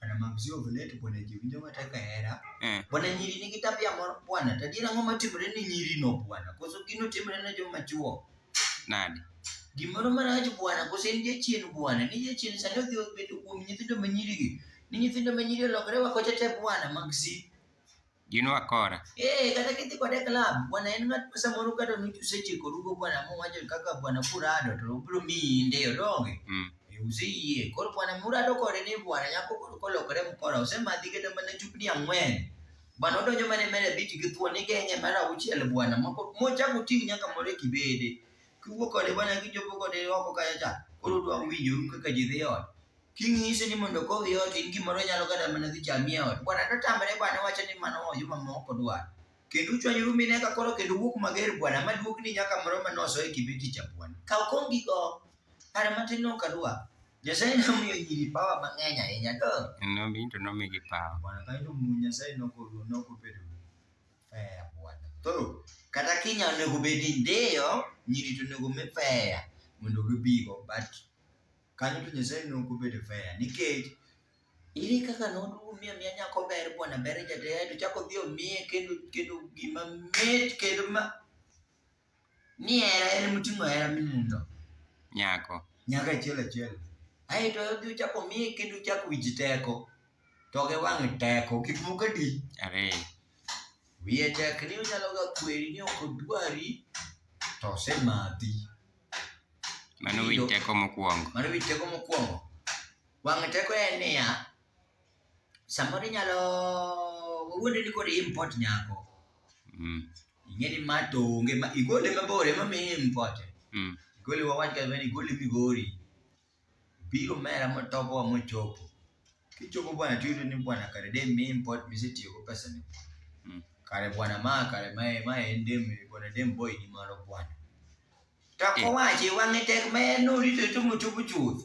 Bwana Mamzi Ovelet, Bwana Jivinjo Mataka Hera. Eh. Bwana nyiri nigi tabia moro bwana, to adiera ang'o matimore ni nyiri no bwana? Koso gino timore ne joma chuo? Nade? Gimoro marach bwana, koso en jachien bwana, ni jachien sani odhi obedo kuom nyithindo ma nyiri gi. Ni nyithindo ma nyiri olokre wa kocha te bwana mag si. Do you know akora? Eh, kata kidhi kode club, bwana en ng'at ma samoro kata nuch usechiko rugo bwana muwacho kaka bwana kurado to obiro miyi ndeyo donge. Mm. Eh, Useyie. Koro bwana murado kode ni bwana nyako koro kolokore mkora osemadhi kata mana chupni ang'wen. Bwana odonjo mana e mera bich gi thuon igeng'e mara auchiel bwana moko mochako ting' nyaka moro e kibede. Kiwuok kode bwana kichopo kode oko kacha cha. Koro dwa winjoru kaka ji dhi ot. Kinyise ni mondo okowi ot in gimoro nyalo kata mana dhi chami e ot. Bwana to tamre bwana wacho ni mano oyo mama ok odwar. Kendo uchwanyoru mine ka koro kendo wuok mager bwana ma duok ni nyaka moro ma noso e kibeti cha bwana. Kaw kong gigo. Para matin no kadwa. Nyasaye nomiyo nyiri pawa mang'eny ahinya to. Nomi to nomigi pawa. Bwana kae to mu Nyasaye nokodu nokobedo. Fair bwana. Koro kata kinya onego bedi ndiyo nyiri to onego mi fair mondo gibigo but kanyo to Nyasaye ne ok obedo fair nikech ere kaka noduogo miyo miya nyako ber bwana ber jataya to chako dhi omiye kendo kendo gima mit kendo ma ni hera en moting'o hera mimundo nyako nyaka achiel achiel aeto odhi ochako omiye kendo chako wich teko to gi wang' teko gik moko adi ariyo wiye tek ni onyalo ga kweri ni ok odwari to osemadhi Mano winj teko mokwongo. Mano winj teko mokwongo. Wang' teko en niya, samoro inyalo wawuondri ni koro import nyako. Mm. Ing'e ni ma to onge ma igole mabor ema mi import. Mm. Igole wawach kata ni igole Migori. biro mera motobowa mochopo. Kichopo bwana tiyudo ni bwana kare de mi import misetiyogo pesa ni. Mm. Kare bwana ma kare ma ma en dem bwana dem boy ni mano bwana. To Eh. kowachi wang'e tek ma en norito to mochopo chuth.